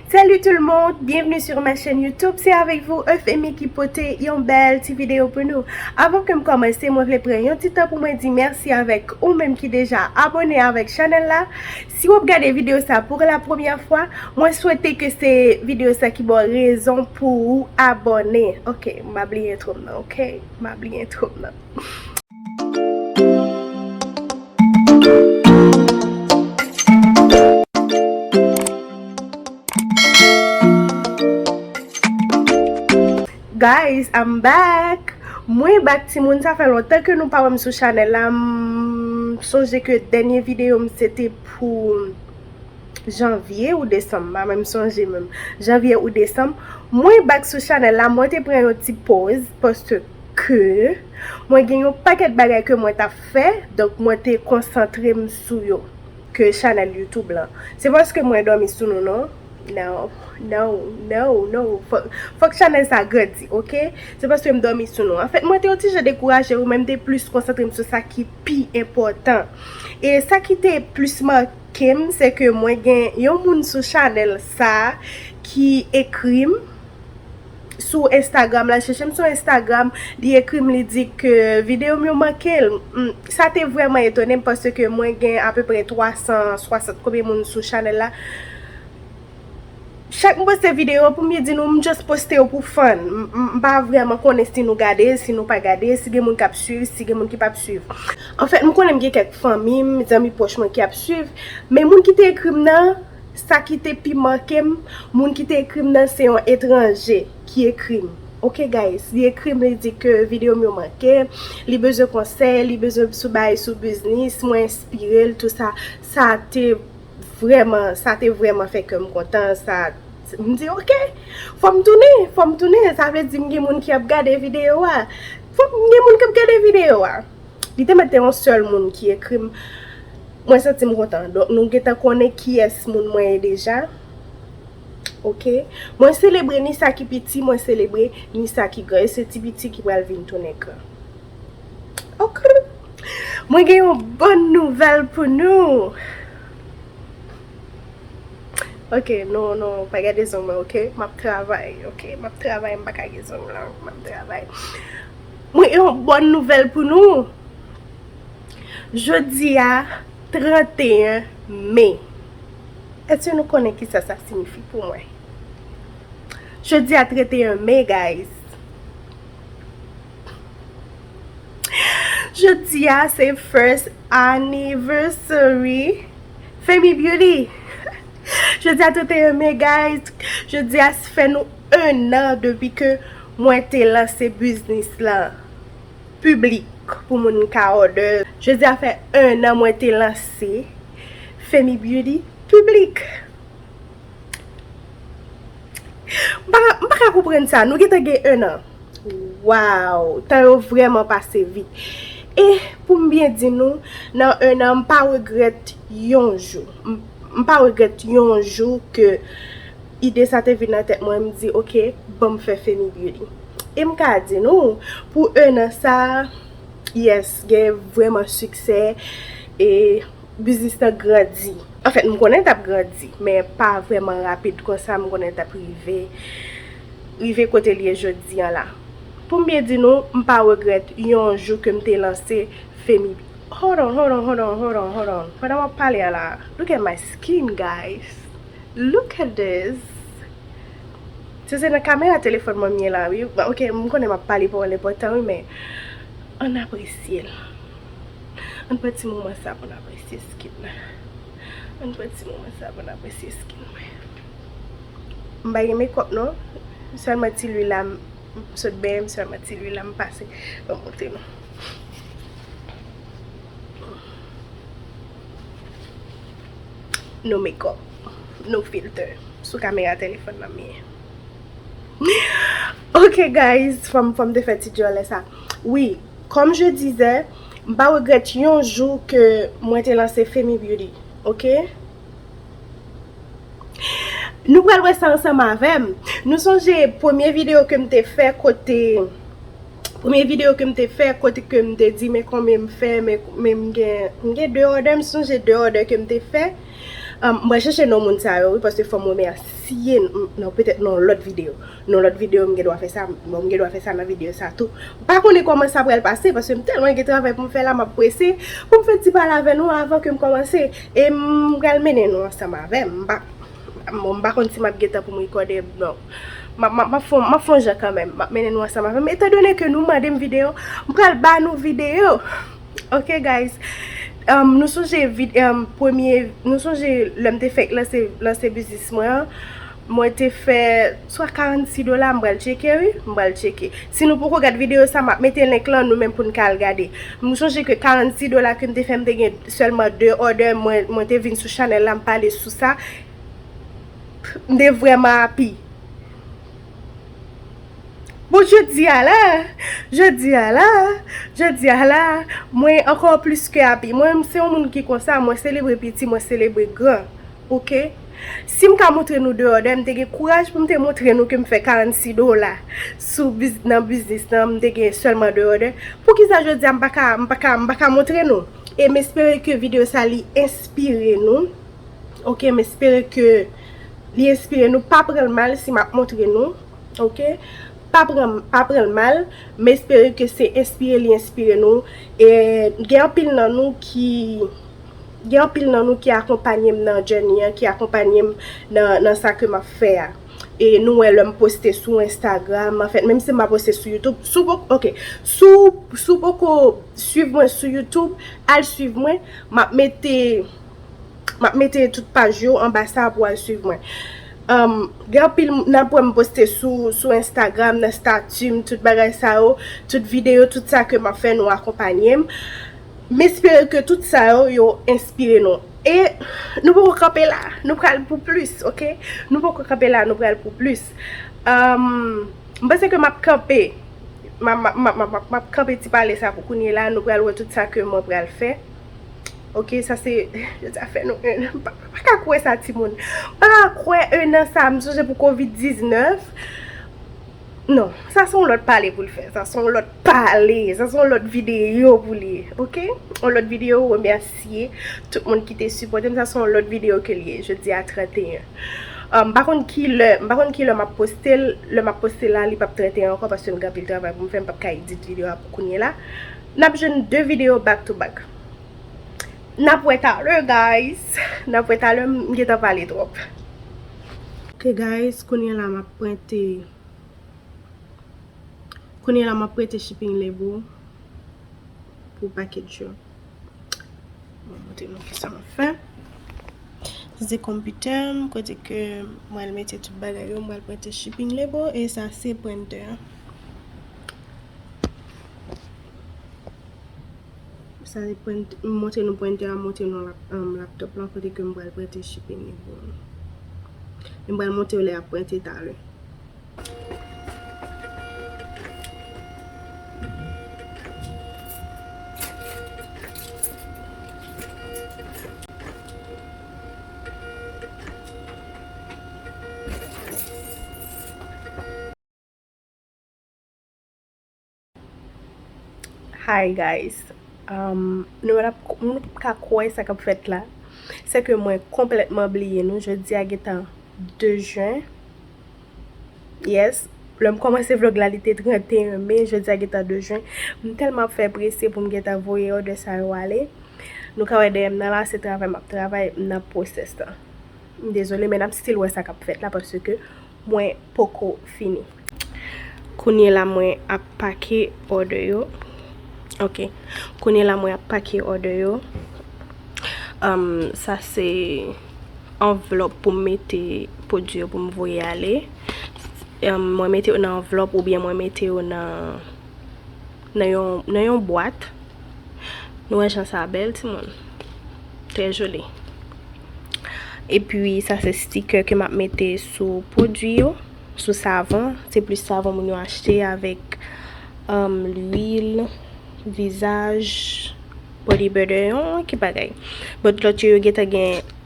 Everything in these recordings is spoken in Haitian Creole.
Salut tout le monde, bienvenue sur ma chaîne YouTube, c'est avec vous Euphemie qui pote yon bel ti vidéo pour nous. Avant que m'commencer, moi vle pran yon ti temps pour moi di merci avec ou même qui déjà abonné avec channel la. Si wap gade vidéo sa pour la première fois, moi souhaite que se vidéo sa ki bon raison pour ou abonné. Ok, m'a bliye intro m nan, ok, m'a bliye intro m nan. Guys I'm back Mwen back ti moun sa fè lontan ke nou pa wèm sou chanel la m sonje ke dènye video m se te pou janvye ou desanm pa menm sonje menm janvye ou desanm mwen back sou chanel la mwen te pran yon ti poz poste ke mwen gen yon pakèt bagay ke mwen tap fè donk mwen te konsantrem sou yo ke chanèl youtube lan se paske mwen dòmi sou nou non now now now now fòk chanèl sa grandi ok se paskem dòmi sou nou anfèt mwen te yon ti jan dekouraje wi men mte plis konsantrem sou sa ki pi enpòtan e sa ki te plis makem se ke mwen gen yon moun sou chanèl sa ki ekrim. sou Instagram la chèche m sou Instagram li ekri m li di ke video m yo manke l sa te vrèman etone m pase ke mwen gen apeprè 360 konbyen moun sou chanèl la chak m poste video pou m di nou m just poste yo pou fun m pa vrèman konnen si nou gade l si nou pa gade l si gen moun kap swiv si gen moun ki pap swiv anfèt m konnen m gen kèk fanmi m zanmi pwòch mwen ki ap swiv men moun ki te ekri m nan. Sa ki te pi manke m, moun ki te ekri m nan se yon etranje ki ekri m. Ok guys, li ekri m li di ke video m yo manke, li bezwen konsèy, li bezwen m sou bay sou biznis, mwen enspire l tou sa. Sa te vrèman, sa te vrèman fè kè m kontan, sa m di ok, fò m tounen, fò m tounen, sa vle di m gen moun ki ap gade video a. Fò m gen moun k ap gade video a. Li te mèt te yon sèl moun ki ekri m. Mwen santi m kontan. Donk nou gentan konnen kiyès moun mwen ye deja. Ok. Mwen selebre ni sa ki piti, mwen selebre ni sa ki gran. E se ti piti ki pral vin tounen gran. Okrr! Mwen gen yon bòn nouvèl pou nou! Ok, nou, nou pa gade zong mwen ok. M ap travay ok. M ap travay m pa ka gen zong lan. M ap travay. Mwen gen yon bòn nouvèl pou nou! Jodi a 31 me, èske nou konnen ki sa sa sinifi pou mwen? Jodi a 31 me guys, jodi a se first anniversary Femi Beauty! Jodi a 31 me guys, jodi a se fè nou 1 an depi ke mwen te lanse biznis lan. piblik pou moun ka òdè. Jodi a fè 1 an mwen te lanse Femi Beauty piblik. M pa ka, m pa ka konprann sa. Nou gentan gen 1 an. Waww! Tan yo vrèman pase vit. E pou m byen di nou, nan 1 an m pa regrèt yon jou. M pa regrèt yon jou ke. Ide sa te vin nan tèt mwen, m di ok, ban m fè Femi Beauty. E m ka di nou, pou 1 an sa, yes, gen vrèman siksè e biznis lan grandi. Anfèt, m konnen l t ap grandi, men pa vrèman rapid konsa, m konnen l t ap rive, rive kote l ye jodi an la. Pou m byen di nou, m pa regrèt yon jou ke m te lanse Femi Beauty. Hold on, hold on, hold on, hold on, hold on, pandan m ap pale a la, look at my skin guys! Look at this Se se nan kamera telefòn mwen m ye la wi Ok m konnen m ap pale pawòl enpòtan wi men Ann apresye l Ann pran ti moman sa pou n apresye skin nan Ann pran ti moman sa pou n apresye skin mwen M pa gen mekòp non Sèlman ti lwil la m sot benyen m sèlman ti lwil la m pase Ban m montre nou no makeup, no filter sou kamera telefòn nan mye. Ok guys, fòm fòm te fè ti dyòlè sa. Wi, kòm je dizè, m pa regrèt yon jou ke mwen te lanse Femi Beauty. Ok? Nou pral wè sa ansanm avèm. Nou sonje premye video ke m te fè kote Premye video kem te fè kote kem te di men konbyen m fè men men m gen m gen 2 òdè m sonje 2 òdè kem te fè m pral chèche non moun sa yo wi paske fòm remèsye non petèt nan yon lòt video nan yon lòt video m gen dwa fè sa bon m gen dwa fè sa nan video sa tou m pa konnen kòman sa pral pase paske m tèlman gen travay pou m fè la m ap prese pou m fè ti pale avè nou avan ke m kòmanse e m pral mennen nou ansanm avè m m pa bon m pa konn si m ap gen tan pou m rekòde non. Map fon map fon jan kanmenm map mennen nou ansanm avèm etan done ke nou mandem video m pral ba nou video ok guys nou sonje premye nou sonje lèm te fèk lanse lanse biznis mwen an mwen te fè swa 46 dola m pral tcheke wi m pral tcheke si nou poko gad video sa map mete link lan nou menm poun ka al gade m sonje ke 46 dola kem te fè m te gen sèlman 2 òdè mwen te vin sou chanèl la m pale sou sa M te vreman api. Bon jodi a la, jodi a la, jodi a la, mwen ankò plis ke api. Mwen se yon moun ki konsa, mwen selebre piti, mwen selebre gran. Ok? Si m ka montre nou deyò dèm, m te gen kouraj pou m te montre nou ke m fè 46 dola sou biz, nan biznis nan, m te gen sèlman deyò dè. Poukisa jodi a m pa ka, m pa ka, m pa ka montre nou? E m espere ke videyo sa li enspire nou. ok m espere ke li enspire nou pa pranl mal si map montre nou ok pa pranl mal m espere ke se enspire li enspire nou e gen anpil nan nou ki gen anpil nan nou ki akonpanyem nan journey an ki akonpanyem nan sa ke map fè a e nou wè lèm poste sou Instagram an fèt menm si m pa poste sou YouTube sou poko ok sou poko swiv mwen sou YouTube al swiv mwen map mete Map mete tout paj yo anba sa pou al swiv mwen. Gen anpil nan pwen m poste sou Instagram, nan stati m, tout bagay sa yo, tout videyo, tout sa ke map fè nou akonpanye m. M espere ke tout sa yo, yo enspire nou. E nou poko kanpe la, nou pral pou plis, ok? Nou poko kanpe la, nou pral pou plis. M panse ke map kanpe, map kanpe ti pale sa pou kounye la, nou pral wè tout sa ke mwen pral fè. Ok sa se Jodi a fè nou 1 an Mpa ka kwè sa ti moun Mpa ka kwè 1 an sa msonje pou covid 19 Non sa son lòt pale poul fè Sa son lòt pale Sa son lòt video pou li Ok On lòt video remèsye Tout moun ki te sipòte m Sa son lòt video ke li ye Jodi a 31 Mpa konn ki lè Mpa konn ki lè map postel Lè map postel la li pap 31 ankò paske m gen anpil travay poum fè Mpap ka edit video a pou kounye la. Nap jwenn 2 video back to back. Nap wè talè guys. Nap wè talè m gentan pale trop. Ok guys kounye la map prente kounye la map prete shipping label pou package yo. Mwen montre nou kisa map fè. Sa se konpitè m kote ke mwen al mete tout bagay yo mwen al prente shipping label e sa se printer an. Sa se prent, m montre nou prentè a, m montre nou laptop lan kote ke m pral prente shipping li pou nou. E m pral montre yo lè yap prente talè. Hi guys Nou menm nou pap ka kwè sa kap fèt la Se ke mwen konplètman bliye nou Jodi a gentan 2 jen Yes Lè m kòmanse vlog la li te 31 me Jodi a gentan 2 jen M tèlman ap fè prese pou m gentan voye òdè sa yo ale Nou ka wè dèyè m nan la se travay m ap travay M nan pwosès la M dezole men n ap still wè sa kap fèt la paske Mwen poko fini. Kounye la mwen ap pake order yo. Ok. Kounye la mwen ap pake order yo. Am, sa se anvlop pou mete pwodwi yo pou m voye ale. Am, mwen mete yo nan anvlop oubyen mwen mete yo nan. Nan yon nan yon bwat. Nou wè jan sa bèl ti moun. Trè joli. E pi sa se sticker ke map mete sou pwodui yo. Sou savon. Se plis savon moun yo achte avèk um lwil vizaj, body butter. Yon kit bagay. But lòt yo yo gentan gen.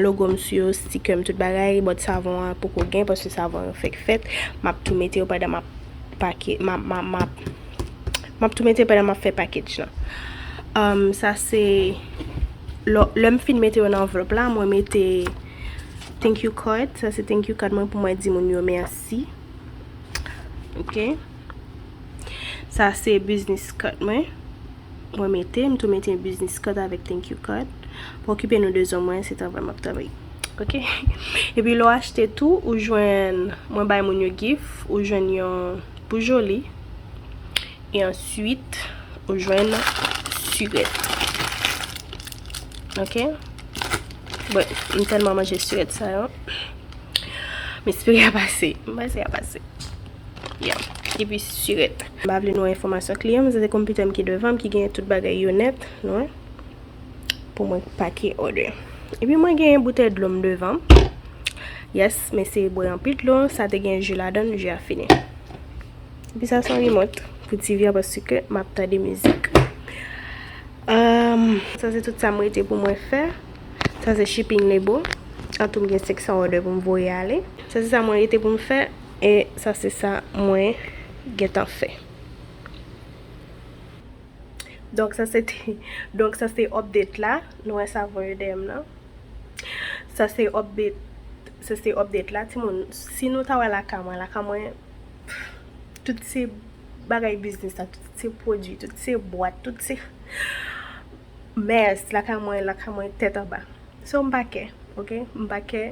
logo m sou yo, sticker m tout bagay, bòt savon an poko gen paske savon yo fèk fèt, map tou mete yo pandan map pake, map map tou mete yo pandan map fè package lan euh sa se lè m fin mete yo nan anvlòp la mwen mete thank you card, sa se thank you card mwen pou mwen di moun yo mèsi ok sa se business card mwen. Mwen mete, m tou mete business card avèk thank you card. Pou okipe nou de zo mwen, se travay m ap travay. Ok. E pi lè w achte tou, ou jwenn, mwen bay moun yo gif, ou jwenn yon pou Joly. E answit, ou jwenn surèt. Ok. Bon, m tèlman manje surèt sa yo. M espere y ap ase. M panse y ap ase. Yeah. Epi surèt. Mpa vle nou wè enfòmasyon kliyan m, sa se konpitè m ki devan m ki genyen tout bagay yo nèt, nou wè, pou mwen pake order. Epi mwen genyen boutèy dlo m devan m. Yes, m eseye bwè anpil dlo, sa te gen ju ladan l, ju a fini. Epi sa se yon remote pou TV a paske map tande mizik. Umm, sa se tout sa m rete pou mwen fè. Sa se shipping label. Antou m gen 500 order pou m voye ale. Sa se sa mwen rete pou m fè. E sa se sa mwen gentan fè. Donk sa se te, donk sa se update la. Nou wè savon yo dèyè m nan. Sa se update, sa se update la timoun. Si nou ta wè lakay mwen, lakay mwen tout se bagay biznis la, tout se pwodui, tout se bwat, tout se Mès lakay mwen lakay mwen tèt anba so m pa kè ok m pa kè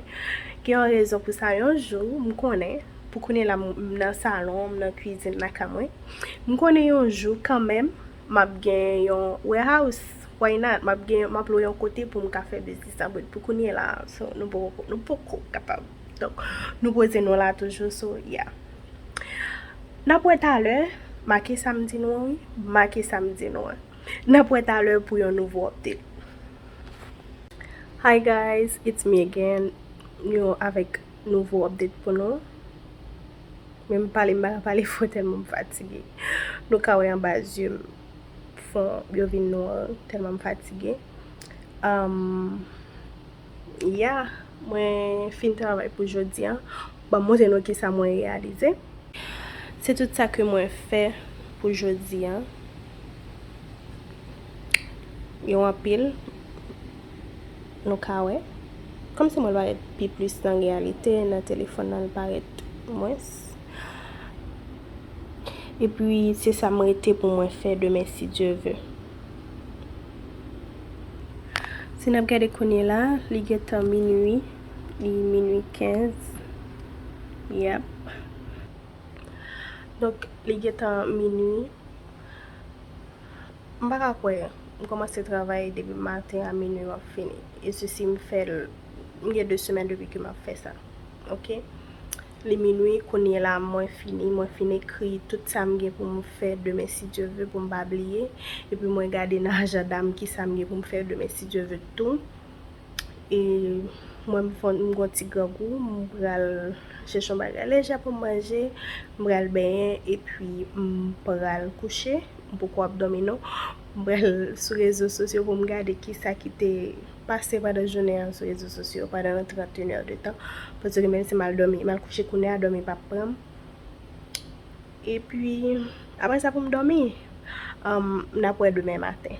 gen yon rezon pou sa yon jou m konnen pou kounye la m nan salon m nan kwizin lakay mwen m konnen yon jou kanmèm m ap gen yon wèhouse why not m ap gen m ap lwe yon kote pou m ka fè biznis la but pou kounye la so nou poko nou poko kapab donk nou poze nou la toujou so ya n ap wè talè make sa m di nou an wi make sa m di nou an. Nap wè talè pou yon nouvo update. Hi guys it's me again yon avèk nouvo update pou nou menm pale m pa ka pale fò tèlman m fatige nou ka wè anba zye m fon yo vin nwa tèlman m fatige. Ya mwen fin travay pou jodi an. Banm montre nou kisa mwen reyalize. Se tout sa ke mwen fè pou jodi an. Yo anpil. Nou ka wè. Kom si mwen parèt pi plis nan reyalite, nan telefon nan li parèt mwens. Epi se sa m rete pou mwen fè demen si Dye ve. Si n ap gade kounye la, li gen tan minui, li minui 15. Yap. Donk, li gen tan minui. M pa ka kwè, m kòmanse travay depi maten a minui m ap fini. E sesi m fè l, m gen 2 semèn depi ke m ap fè sa. Ok. Li minwi kounyela mwen fini mwen fin ekri tout sam gen poum fè demen si Dye ve poum pa bliye epi mwen gade nan ajandam kisam gen poum fè demen si Dye ve tou e mwen m gon ti grangou m pral chèche yon bagay lejè poum manje m pral benyen epi m pral kouche m poko ap domi non. M pral sou rezo sosyo pou m gade ki sa ki te pase pandan jounen an sou rezo sosyo pandan 31 heures de tan. Paske menm si m al dòmi, m al kouche kounye a, dòmi pap pran m. Epi, apre sa pou m dòmi, n ap wè demen maten.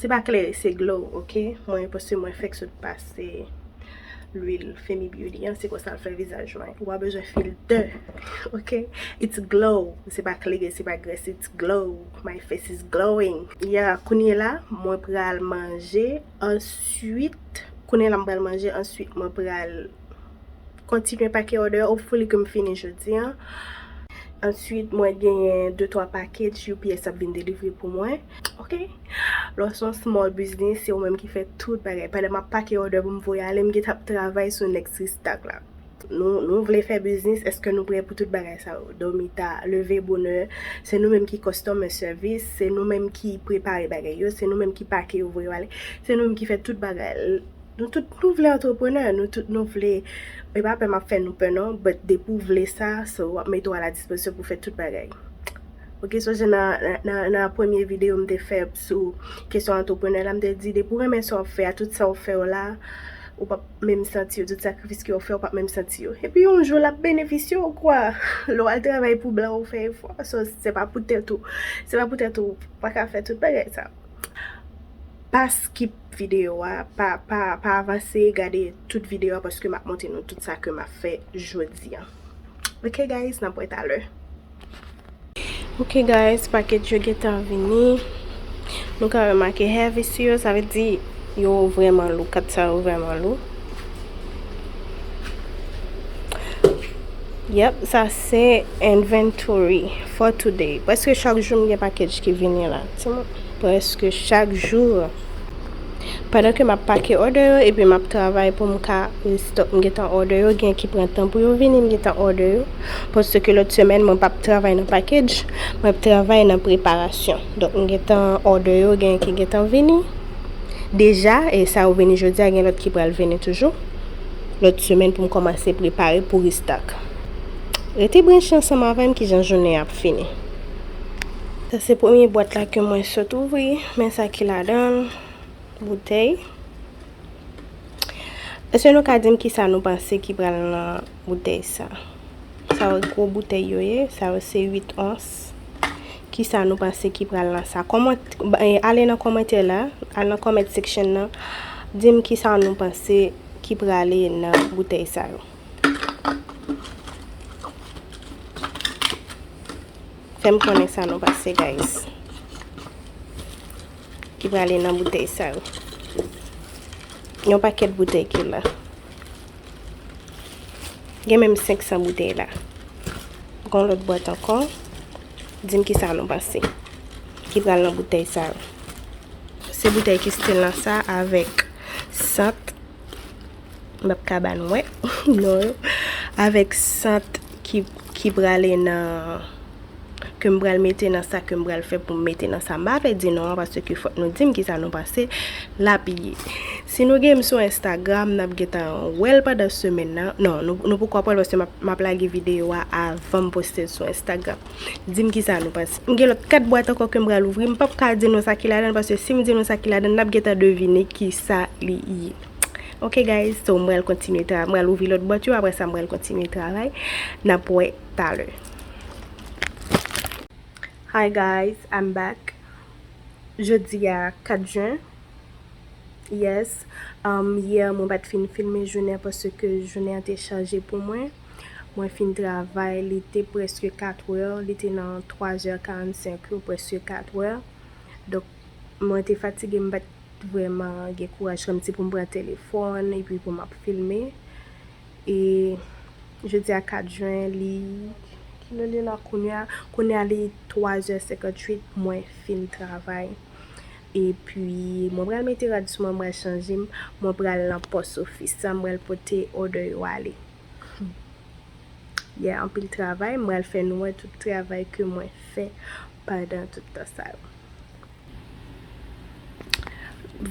Se pa klere se glow ok mwen paske mwen fèk sot pase lwil femi beauty an se konsal fè vizaj mwen ou pa bezwen filtè ok it's glow se pa klere se pa grès it's glow my face is glowing ya kounyela mwen pral manje answit kounyela mwen pral manje answit mwen pral kontinye pake òdè yo hopefully ke m fini jodi an. Answit mwen genyen de twa package UPS ap vin delivre pou mwen. Ok! Lè w se yon small business, se ou menm ki fè tout bagay. Pandan m ap pake òdè pou m voye ale, m gentan ap travay sou next restock la. Nou vle fè biznis, èske nou prè pou tout bagay sa yo? Dòmi ta, leve bonè, se nou menm ki customer service, se nou menm ki prepare bagay yo, se nou menm ki pake yo voye yo ale, se nou menm ki fè tout bagay. Nou tout nou vle antreprenè, nou tout nou vle, e pa pè m ap fè nou pè non, but depi w vle sa, so w ap mete w a la dispozisyon pou w fè tout bagay. Ok, so jan nan premye videyo m te fè sou kesyon antreprenè la, m te di depi w renmen sa w ap fè a, tout sa w fè yo la, ou p ap menm santi yo, tout sakrifis ke w fè ou p ap menm santi yo. Epi yon jou l ap benefisye w kwa, lè w al travay pou blan ou fè efò, so se pa pou tèt ou, se pa pou tèt ou, ou pa ka fè tout bagay sa. Pas ki. video a pa pa pa avanse gade tout video a paske map montre nou tout sa ke map fè jodi an ok guys nap wè talè ok guys paket yo gentan vini nou ka wè make heavy si yo sa vle di yo vreman lou kat sa yo vreman lou yep sa se inventory for today paske chak jou m gen paket ki vini la ti moun Prèske chak jou. Pandan ke map pake order yo epi map travay pou m ka restock m gentan order yo gen ki pran tan pou yo vini m gentan order yo paske lòt semèn mwen pap travay nan package mwen ap travay nan preparasyon donk m gentan order yo gen ki gentan vini deja e sa yo vini jodia gen lòt ki pral vini toujou lòt semèn pou m kòmanse prepare pou restock rete branche ansanm avèm kijan jounen ap fini. Sa se premye bwat la ke mwen sot ouvri, men sa ki ladanl, boutèy. Eske nou ka dim kisa nou panse ki pral nan boutèy sa? Sa yo gwo boutèy yo ye, sa yo se 8 ons. Kisa nou panse ki pral nan sa? Ale nan komantè la, al nan comment section nan, dim kisa nou panse ki prale nan boutèy sa yo. Fèm konnen sa nou pase guys. Ki prale nan boutèy sa yo. Yon pakèt boutèy ki la. Gen menm 500 boutèy la. Gon lòt bòt ankon. Dim ki sa nou pase. Ki prale nan boutèy sa yo. Se boutèy ki stil nan sa avèk sant. Map kaban wè non yo avèk sant ki prale nan ke m pral mete nan sa ke m pral fè pou m mete nan sa m pa vle di non an paske ke fòk nou di m ki sa nou panse lap ye si nou gen m sou Instagram nap gen tan wè l pandan semèn nan non nou poko ap wè l paske map lage videyo a avan m poste l sou Instagram. Dim kisa nou panse. M gen lòt 4 bwat ankò kem pral ouvri. M pap ka di nou sa ki ladann paske sim di nou sa ki ladann nap gentan devine kisa li ye. Ok guys so m pral kontinye travay. M pral ouvri lòt bwat yo aprè sa m pral kontinye travay. Nap wè talè. Hi guys I'm back Jodi a 4 jen Yes Yè mwen pat fin filme jounen paske jounen an te chaje pou mwen. Mwen fin travay, li te prèske katwè, li te nan twazè karannsenk yo, prèske katwè. Donk, mwen te fatige, m pa t vrèman gen kouraj kòmsi pou m pran telefòn epi pou m ap filme. E jodi a 4 jen, li, ki lè li la kounye a? Kounye a li twazè senkantwit mwen fin travay. Epi mwen pral mete rad sou mwen mwen pral chanje m mwen pral nan pos ofis la m pral pote order yo ale yeah anpil travay m pral fè nou wè tout travay ke mwen fè pandan tout tan sa yo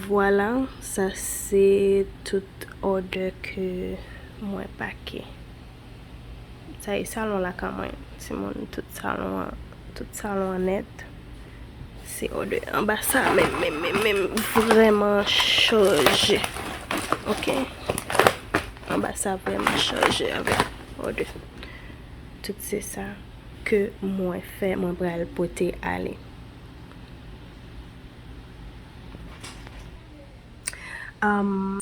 vwala sa se tout order ke mwen pake. Sa e salon lakan mwen timoun tout salon an tout salon an nèt se o de anba sa menm menm menm menm vreman chanje ok anba sa vreman chanje avèk o de tout se sa ke mwen fè mwen pral pote ale am.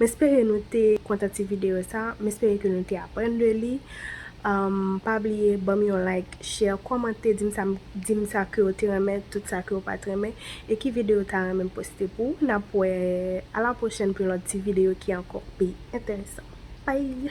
M espere nou te kontan ti video sa, m espere ke nou te aprann de li, pa bliye banm yon like. share, kòmante, dim sa, dim sa kew te renmen, tout sa kew pat renmen, e ki videyo ta renmen m poste pou ou, nap wè, a la pwochèn pou yon lòt ti videyo ki ankò pi enteresan. Bye!